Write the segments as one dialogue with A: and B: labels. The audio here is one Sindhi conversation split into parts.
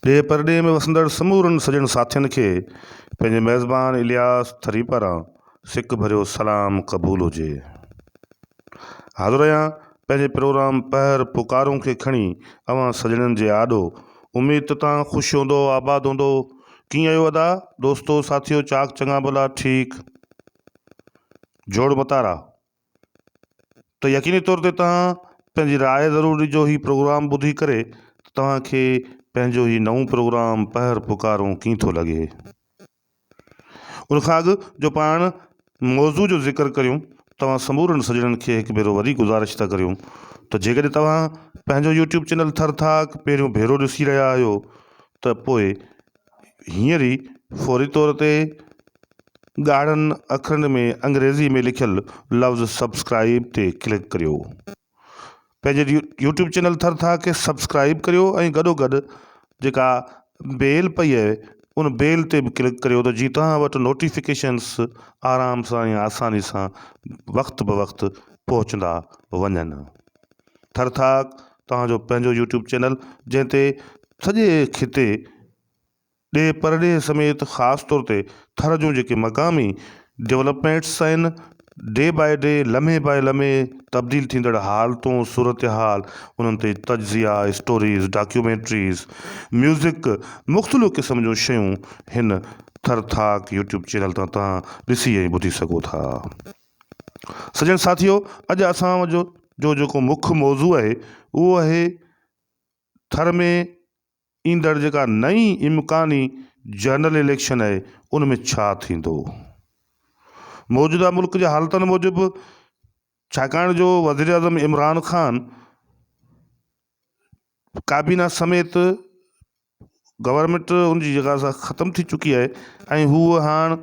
A: ڏيهه پرڏيهه ۾ وسندڙ سمورن سڄڻ ساٿين کي پنهنجي ميزبان الياس ٿري پاران سڪ ڀريو سلام قبول هجي. حاضر آهيان پنهنجي پروگرام پهر پڪارون کي کڻي اوهان سڄڻن جي آڏو. اميد ته تان خوش هوندؤ آباد هوندؤ. ڪيئن آهيو ادا، دوستو، ساٿيو، چاڪ چڱا ڀلا، ٺيڪ. جوڙ متارا، ته يقيني طور تي توهان پنهنجي راء ضرور ڏجو هي پروگرام ٻڌي ڪري ته توهان کي پنهنجو هي نئون پروگرام پهر پڪارون ڪيئن ٿو لڳي ان کان اڳ جو پاڻ موضوع جو ذڪر ڪريون توهان سمورن سڄڻن کي هڪ ڀيرو وري گذارش ٿا ڪريون ته جيڪڏهن توهان پنهنجو يوٽيوب چينل ٿر ٿاڪ پهريون ڀيرو ڏسي رهيا آهيو ته پوء هينئر ئي فوري طور تي ڳاڙهن اکرن ۾ انگريزي ۾ لکيل لفظ سبسڪرائيب تي ڪلڪ ڪريو پنهنجي يوٽيوب چينل ٿر ٿا کي سبسڪرائيب ڪريو ۽ گڏو گڏ جيڪا بيل پئي آهي ان بيل تي به ڪلڪ ڪريو ته جيئن توهان وٽ نوٽيفڪيشنس آرام سان ۽ آساني سان وقت بوقت پهچندا وڃن ٿر ٿاڪ توهان جو پنهنجو يوٽيوب چينل جنهن تي سڄي خطي ڏيهه پرڏيهه سميت خاص طور تي ٿر جون جيڪي مقامي ڊولپمينٽس آهن ڊي باء ڊي لمحي باء لمحي تبديل ٿيندڙ حالتون صورتحال انهن تي تجزيا اسٽوريز ڊاڪيومينٽريز ميوزڪ مختلف قسم جون شيون هن ٿر ٿاڪ يوٽيوب چينل تان توهان ڏسي ۽ ٻڌي سگهو ٿا. سڄڻ ساٿيو اڄ اسان جو جو جيڪو مک موضوع آهي اهو آهي ٿر ۾ ايندڙ جيڪا نئين امڪاني جنرل اليڪشن آهي ان ۾ ڇا ٿيندو. موجوده ملڪ جي حالتن موجب ڇاڪاڻ جو وزيراعظم عمران خان ڪابينا سميت گورنمينٽ ان جي جڳهه سان ختم ٿي چڪي آهي ۽ هوء هاڻ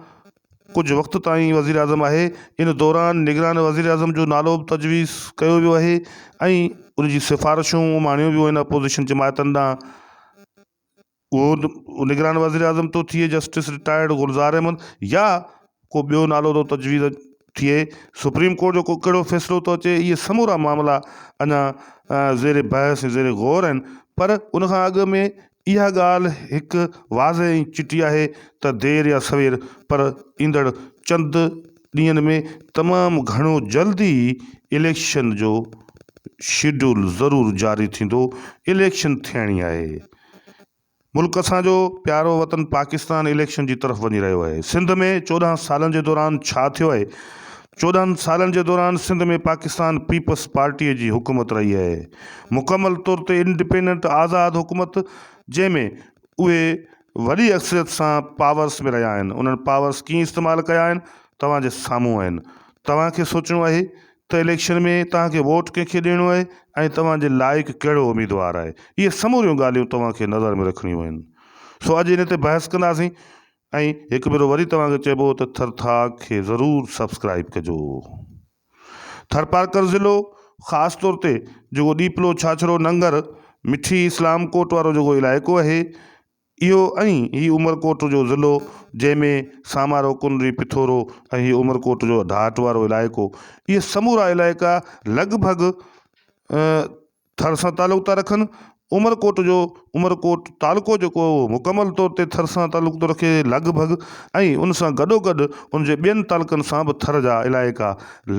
A: ڪجهه وقت تائين وزيراعظم آهي. ان دوران نگران وزيراعظم جو نالو به تجويز ڪيو ويو آهي ۽ ان جي سفارشون اماڻيون ويون آهن اپوزيشن جماعتن ڏانهن. اهو نگران وزيراعظم ٿو ٿئي جسٽس رٽائرڊ گلزار احمد يا ڪو ٻيو نالو ٿو تجويز ٿئي، سپريم ڪورٽ جو ڪو ڪهڙو فيصلو ٿو اچي، اهي سمورا معاملا اڃا زير بحث ۽ زير غور آهن پر ان کان اڳ ۾ اها ڳالهه هڪ واضح ۽ چٽي آهي ته دير يا سوير پر ايندڙ چند ڏينهن ۾ تمام گهڻو جلد ئي اليڪشن جو شيڊول ضرور جاري ٿيندو، اليڪشن ٿيڻي آهي. ملڪ اسان جو پيارو وطن پاڪستان اليڪشن جي طرف وڃي رهيو آهي سنڌ ۾ چوڏهن سالن جي دوران ڇا ٿيو آهي چوڏهن سالن جي دوران سنڌ ۾ پاڪستان پيپس پارٽي جي حڪومت رهي آهي مڪمل طور تي انڊپينڊنٽ آزاد حڪومت جنهن ۾ اهي وڏي اڪثريت سان پاورس ۾ رهيا آهن انهن پاورس ڪيئن استعمال ڪيا آهن توهان جي سامهون آهن توهان کي سوچڻو آهي ته اليڪشن ۾ توهان کي ووٽ ڪنهن کي ڏيڻو آهي ۽ توهان جي لائق ڪهڙو اميدوار آهي اهي سموريون ڳالهيون توهان کي نظر ۾ رکڻيون آهن سو اڄ ان تي بحث ڪنداسين ۽ هڪ ڀيرو وري توهان کي چئبو ته ٿرٿاڪ کي ضرور سبسڪرائيب ڪجو ٿرپارڪر ضلعو خاص طور تي جيڪو ڏيپلو ڇاڇرو ننگر مٺي اسلام ڪوٽ وارو جيڪو علائقو اهي اهو ۽ هي عمرڪوٽ جو ضلعو جنهن ۾ سامارو، ڪنري، پٿورو ۽ هي عمرڪوٽ جو ڍاٽ وارو علائقو اهي سمورا علائقا لڳ ڀڳ ٿر سان تعلق ٿا رکن. عمرڪوٽ جو عمرڪوٽ تعلقو جيڪو آهي اهو مڪمل طور تي ٿر سان تعلق ٿو رکي لڳ ڀڳ ۽ ان سان گڏوگڏ ان جي ٻين تعلقن سان به ٿر جا علائقا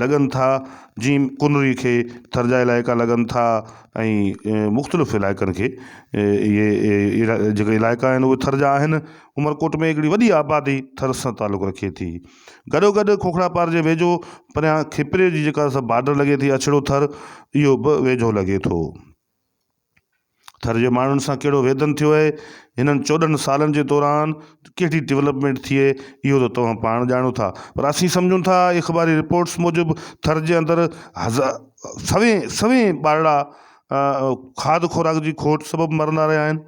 A: لڳن ٿا جيئن ڪنري کي ٿر جا علائقا لڳن ٿا. ۽ مختلف علائقن کي اهي اهڙا جيڪي علائقا آهن اهي ٿر جا آهن عمرڪوٽ ۾ هڪڙي وڏي آبادي ٿر سان تعلق رکي ٿي گڏو گڏ کوکرا پار جي ويجهو پريان کپري جي جيڪا سا بارڊر لڳي ٿي اڇڙو ٿر اهو به ويجهو لڳي ٿو ٿر جي ماڻهن سان ڪهڙو ويڌن ٿيو آهي هنن چوڏهن سالن جي دوران ڪهڙي ڊولپمينٽ ٿئي اهو ته توهان پاڻ ڄاڻو ٿا پر اسين سمجهون ٿا اخباري رپورٽس موجب ٿر جي اندر هزا سوين سوين ٻارڙا کاڌ خوراڪ جي کوٽ سبب مرندا رهيا آهن،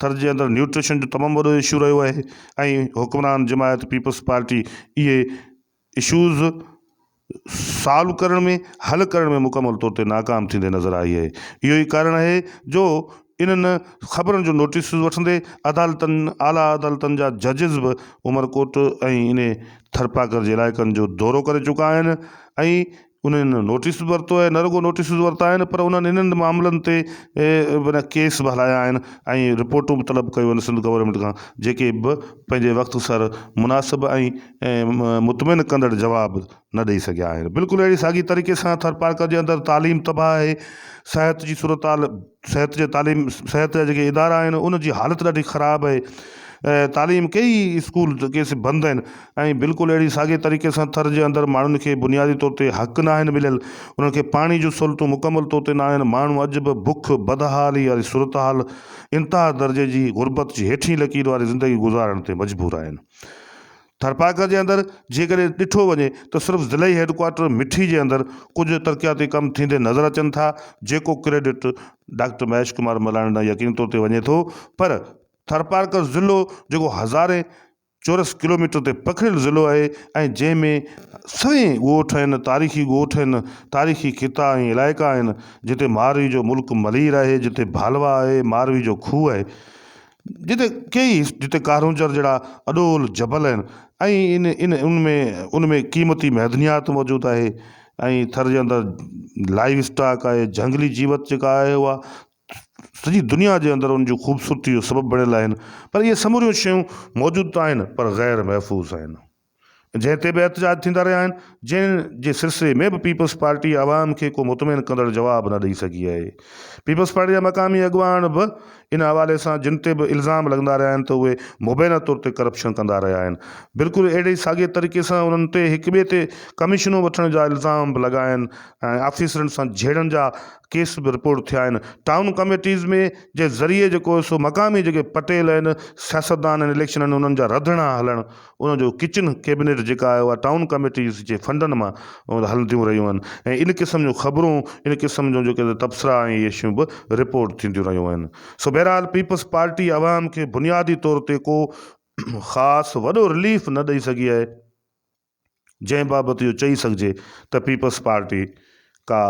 A: ٿر جي اندر نيوٽريشن جو تمام وڏو اشو رهيو آهي ۽ حڪمران جماعت پيپلز پارٽي اهي اشوز سالو ڪرڻ ۾ حل ڪرڻ ۾ مڪمل طور تي ناڪام ٿيندي نظر آئي آهي، اهو ئي ڪارڻ آهي جو انهن خبرن جو نوٽيسز وٺندي عدالتن اعليٰ عدالتن جا ججز به عمرڪوٽ ۽ انهي ٿرپاڪر جي علائقن جو دورو ڪري چڪا آهن ۽ انهن نوٽيس به ورتو آهي، نه رڳو نوٽيس ورتا آهن پر انهن انهن معاملن تي معنيٰ ڪيس به هلايا آهن ۽ رپورٽون به طلب ڪيون آهن سنڌ گورنمينٽ کان جيڪي به پنهنجي وقت سر مناسب ۽ مطمئن ڪندڙ جواب نه ڏئي سگهيا آهن بلڪل اهڙي ساڳي طريقي سان ٿرپارڪر جي اندر تعليم تباهه آهي صحت جي صورتحال صحت جي تعليم صحت جا جيڪي ادارا آهن ان جي حالت ڏاڍي خراب آهي تعليم ڪئي اسڪول ڪيس بند آهن ۽ بلڪل اهڙي ساڳي طريقي سان ٿر جي اندر ماڻهن کي بنيادي طور تي حق ناهن مليل، انهن کي پاڻي جون سهولتون مڪمل طور تي ناهن، ماڻهو اڄ به بک، بدحالي واري صورتحال، انتها درجي جي غربت جي هيٺين لڪير واري زندگي گذارڻ تي مجبور آهن. ٿرپارڪر جي اندر جيڪڏهن ڏٺو وڃي ته صرف ضلعي هيڊڪوارٽر مٺي جي اندر ڪجهه ترقياتي ڪم ٿيندي نظر اچن ٿا جيڪو ڪريڊٽ ڊاڪٽر مهيش ڪمار ملاڻي ڏانهن يقيني طور تي وڃي ٿو پر ٿرپارڪر ضلعو جيڪو هزارين چورس ڪلوميٽر تي پکڙيل ضلعو آهي ۽ جنهن ۾ سوين ڳوٺ آهن، تاريخي ڳوٺ آهن، تاريخي خطا ۽ علائقا آهن، جتي ماروي جو ملڪ ملير آهي، جتي ڀالوا آهي، ماروي جو کوهه آهي، جتي ڪيئي جتي ڪارونجهر جهڙا اڏول جبل آهن ۽ ان ان ۾ ان ۾ قيمتي معدنيات موجود آهي ۽ ٿر جي اندر لائيو اسٽاڪ آهي، جهنگلي جيوت جيڪا آهي اها سڄي دنيا جي اندر ان جي خوبصورتي جو سبب بڻيل آهن پر اهي سموريون شيون موجود ته آهن پر غير محفوظ آهن جنهن تي به احتجاج ٿيندا رهيا آهن جنهن جي سلسلي ۾ به پيپلز پارٽي عوام کي ڪو مطمئن ڪندڙ جواب نه ڏئي سگهي آهي پيپلز پارٽي جا مقامي اڳواڻ به ان حوالي سان جن تي به الزام لڳندا رهيا آهن ته اهي مبينا طور تي ڪرپشن ڪندا رهيا آهن بلڪل اهڙي ئي ساڳي طريقي سان انهن تي هڪ ٻئي تي ڪميشنون وٺڻ جا الزام به لڳاين ۽ آفيسرن سان جهيڙن جا ڪيس به رپورٽ ٿيا آهن ٽائون ڪميٽيز ۾ جي ذريعي جيڪو سو مقامي جيڪي پٽيل آهن سياستدان آهن اليڪشن آهن انهن جا رڌڻا هلڻ ان جو ڪچن ڪيبنيٽ جيڪا آهي اها ٽائون ڪميٽيز جي فنڊن مان هلنديون رهيون آهن ۽ ان قسم جون خبرون ان قسم جون جيڪي تبصرا ۽ اهي شيون به رپورٽ ٿينديون رهيون آهن سو بهرحال پيپلز پارٽي عوام کي بنيادي طور تي ڪو خاص وڏو رليف نه ڏئي سگهي آهي. جنهن بابت اهو چئي سگهجي ته پيپلز پارٽي ڪا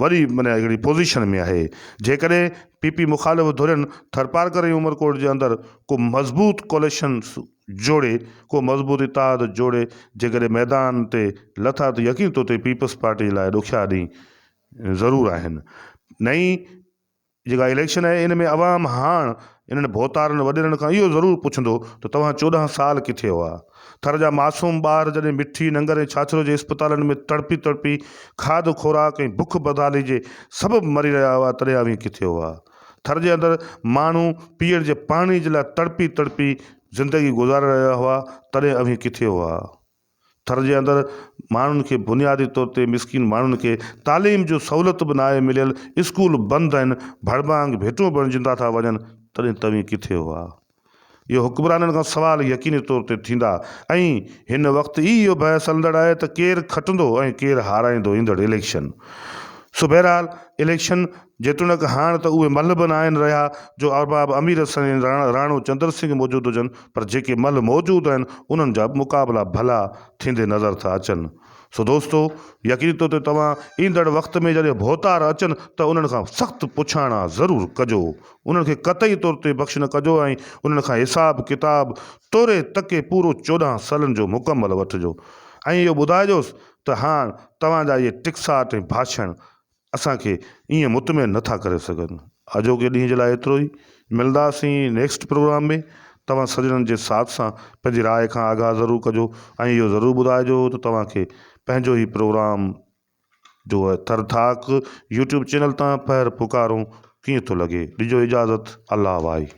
A: وڏي معنيٰ هڪڙي پوزيشن ۾ آهي. جيڪڏهن پي پي مخالف ڌرين ٿرپارڪر ۽ عمرڪوٽ جي اندر ڪو مضبوط ڪوليشن جوڙي، ڪو مضبوط اتحاد جوڙي جيڪڏهن ميدان تي لٿا ته يقيني طور تي پيپلز پارٽي لاء ڏکيا ڏينهن ضرور آهن. نئين جيڪا اليڪشن آهي ان ۾ عوام هاڻ انهن ڀوتارن وڏيرن کان اهو ضرور پڇندو ته توهان چوڏهن سال ڪٿي هئا؟ ٿر جا معصوم ٻار جڏهن مٺي ننگر ۽ ڇاڇرو جي اسپتالن ۾ تڙپي تڙپي کاڌ خوراڪ ۽ بک بدحالي جي سبب مري رهيا هئا تڏهن اوهين ڪٿي هئا؟ ٿر جي اندر ماڻهو پيئڻ جي پاڻي جي لاء تڙپي تڙپي زندگي گذاري رهيا هئا تڏهن اوهين ڪٿي هئا؟ ٿر جي اندر ماڻهن کي بنيادي طور تي مسڪين ماڻهن کي تعليم جو سهولت به ناهي مليل اسڪول بند آهن ڀڙڀانگ ڀيٽون بڻجندا ٿا وڃن تڏهن توهين ڪٿي هئا اهو حڪمرانن کان سوال يقيني طور تي ٿيندا ۽ هن وقت ئي اهو بحث هلندڙ آهي ته ڪير کٽندو ۽ ڪير هارائيندو ايندڙ اليڪشن سو بهرحال اليڪشن جيتوڻيڪ هاڻ ته اهي ملهه به نه آهن رهيا، جو ارباب امير حسن ۽ راڻو چندر سنگهه موجود هجن، پر جيڪي ملهه موجود آهن، انهن جا به مقابلا ڀلا ٿيندي نظر ٿا اچن. سو دوستو! يقيني طور تي توهان ايندڙ وقت ۾ جڏهن ڀوتار اچن ته انهن کان سخت پڇاڻا ضرور ڪجو. انهن کي قطعي طور تي بخش نه ڪجو ۽ انهن کان حساب ڪتاب ٽوري تڪي پورو چوڏهن سالن جو مڪمل وٺجو ۽ اهو ٻڌائجوس ته هاڻ توهان جا اهي ٽڪساٽ ۽ ڀاشڻ اسان کي ائين مطمئن نه ٿا ڪري سگهن. اڄوڪي ڏينهن جي لاء ايترو ئي. ملنداسين نيڪسٽ پروگرام ۾. توهان سڄڻن جي ساٿ سان پنهنجي راء کان آگاهه ضرور ڪجو ۽ اهو ضرور ٻڌائجو ته توهان کي پنهنجو هي پروگرام جو ٿر ٿاڪ يوٽيوب چينل تان پهر پڪارون ڪيئن ٿو لڳي. ڏجو اجازت الله وائي.